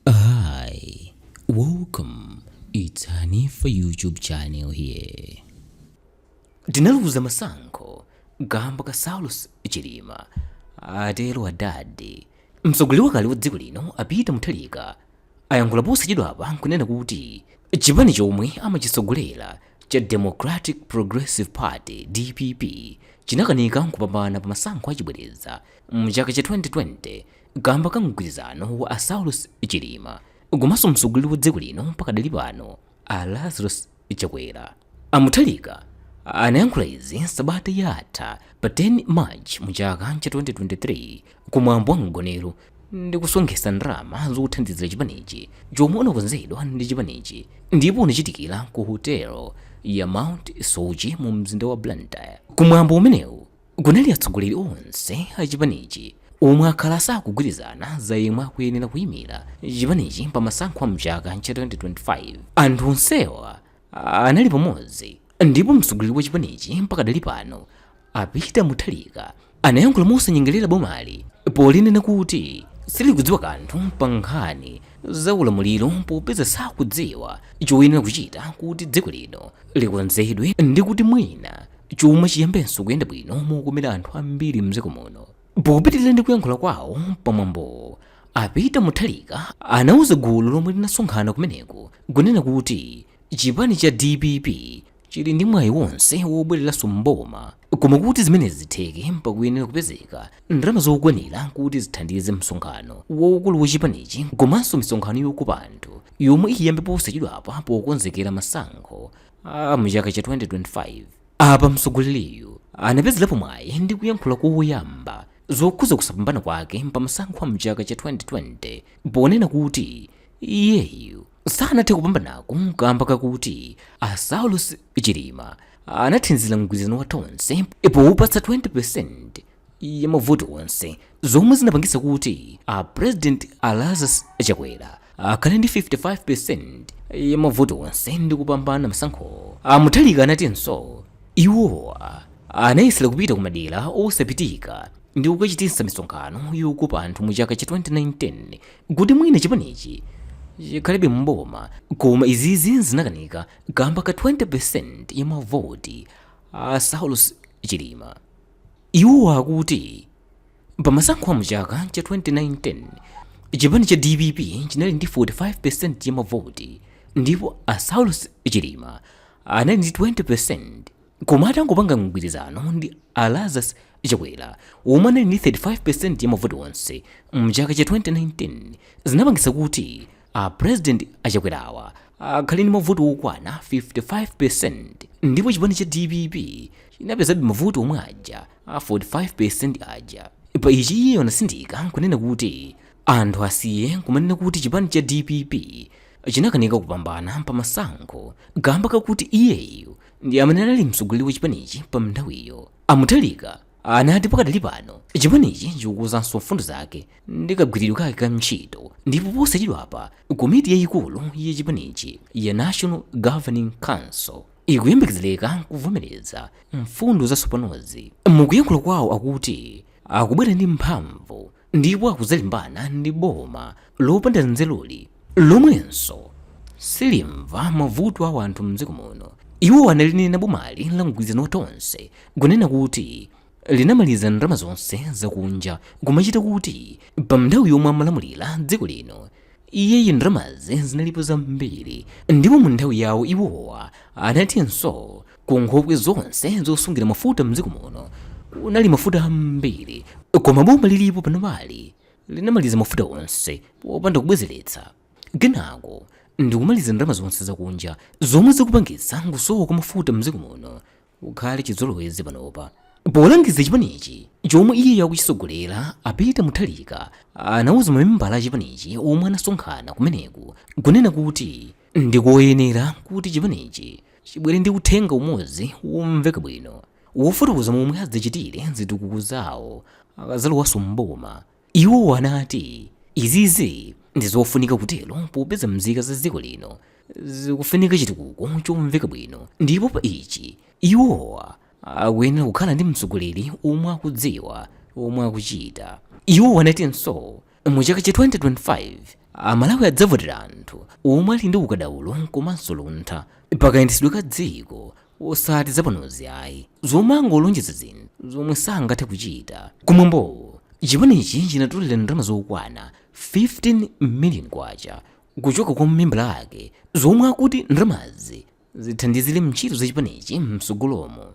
Hi, welcome. It's Hanifa YouTube channel here. Tinaluza masankho kamba ka Saulos Chilima atero adadi. Mtsogoleri wakale wa dziko lino a Peter Mutharika ayankhula posachedwapa nkunena kuti chipani chomwe amachitsogolera cha Democratic Progressive Party DPP chinakanika kupambana pa masankho achibwereza mu chaka cha 2020 Kamba ka mgwirizano wa a Saulos Chilima komanso mtsogoleri wa dziko lino pakadali pano a Lazarus Chakwera, a Mutharika anayankhula izi sabata yatha pa 10 March mu chaka cha 2023 ku mwambo wa mgonero ndi kusonkhesa ndalama zothandizira chipanichi chomwe unakonzedwa ndi chipanichi ndipo unachitikira ku hotelo ya Mount Soche mu mzinda wa Blantyre. Ku mwambo umenewu kunali atsogoleri onse a chipanichi omwe akhala sakugwirizana za yemwe akuyenera kuyimira chipanichi pa masankho a mchaka cha 2025 anthu onsewa anali pamodzi ndipo mtsogoleri wa chipanichi pakadali pano a Peter Mutharika anayankhula mosanyengerera bomali polinena kuti silikudziwa kanthu pa nkhani za ulamuliro popeza sakudziwa choyenera kuchita kuti dziko lino likonzedwe ndi kuti mwina chuma chiyambenso kuyenda bwino mokomera anthu ambiri mdziko muno popitirira ndi kuyankhula kwawo pamwambowo a peter mutharika anauza gulu lomwe linasonkhana kumeneko kunena kuti chipani cha dpp chili ndi mwayi wonse wobwereranso mboma koma kuti zimenezi zitheke pakuyenera kupezeka ndalama zokwanira kuti zithandize msonkhano waukulu wa chipanichi komanso misonkhano yokopa anthu yomwe iyambe posachedwapa pokonzekera masankho a mchaka cha 2025 apa mtsogoleriyu anapezerapo mwayi ndi kuyankhula koyamba zokhuza kusapambana kwake pa masankho a mchaka cha 2020 ponena kuti iyeyu sanathe kupambanako kamba kakuti a saulos chilima anathandizira mgwirizano wa tonse powupatsa 20 ya mavoti onse zomwe zinapangitsa kuti a president a Lazarus Chakwera akhale ndi 55% ya mavoti onse ndi kupambana masankho. A Mutharika anatinso iwowa anayesera kupita ku madera osapitika ndi kukachititsa misonkhano yokopa anthu mu chaka cha 2019 kuti mwina chipanichi chikhalebe mboma koma izizi zinakanika kamba ka 20% ya mavoti a Saulos Chilima. Iwo akuti pa masankho a mchaka cha 2019, chipani cha dpp chinali ndi 45% ya mavoti ndipo a Saulos Chilima anali ndi 20% koma atangopanga mgwirizano ndi a Lazarus Chakwera omwe anali ndi 35% ya mavoti onse mchaka cha 2019 zinapangitsa kuti A president a Chakwera awa akhale ndi mavoti okwana 55% ndipo chipani cha dpp chinapezabe mavoti omwe aja a 45% aja. Pa ichi iye anatsindika nkunena kuti anthu asiye kumanena kuti chipani cha dpp chinakanika kupambana pa masankho kamba kakuti iyeyu ndi amene anali mtsogoleri wa chipanichi pa nthawiyo. A Mutharika anati pakadali pano chipanichi chikukonzanso mfundo zake ndi kagwiridwe kake ka ntchito ndipo posachedwapa komiti yayikulu ya chipanichi ya national governing council ikuyembekezereka kuvomereza mfundo zatsopanozi mukuyankhula kwawo akuti akubwera ndi mphamvu ndipo akudzalimbana ndi boma lopanda nzeruli lomwenso silimva mavuto a wanthu mdziko muno iwowa analinena bomali la mgwirizano wa tonse kunena kuti linamaliza ndalama zonse zakunja kumachita kuti pa nthawi yomwe amalamulira dziko lino iyeyu ndalamazi zinalipo zambiri ndipo mu nthawi yawo iwowa anatinso Ku nkhokwe zonse zosungira mafuta m'dziko muno kunali mafuta ambiri koma boma lilipo panopali linamaliza mafuta onse popanda kubwezeretsa kenako ndikumaliza ndalama zonse zakunja zomwe zikupangitsa kusowa kwa mafuta m'dziko muno kukhale chizolowezi panopa. Polangiza chipanichi chomwe iyeyo akuchitsogolera, a Peter Mutharika anauza mamembala a chipanichi omwe anasonkhana kumeneku kunena kuti, Ndikoyenera kuti chipanichi chibwere ndi uthenga umodzi womveka bwino wofotokoza momwe adzachitire zitukuko zawo akadzalowanso m'boma. Iwowa anati izizi ndi zofunika kutero popeza mzika za dziko lino zikufunika chitukuko chomveka bwino ndipo pa ichi iwowa akuyenera kukhala ndi mtsogoleri omwe akudziwa zomwe akuchita. Iwowa anatinso Mu chaka cha 2025, Amalawi adzavotera anthu omwe ali ndi ukadaulo komanso luntha pakayendetsedwe ka dziko osati zapanozi ayi, zomangolonjeza zinthu zomwe sangathe kuchita. Kumwambowo, chipanichi chinatolera ndalama zokwana K15 million kuchoka kwa mamembala ake zomwe akuti ndalamazi zithandizire ntchito za chipanichi mtsogolomu.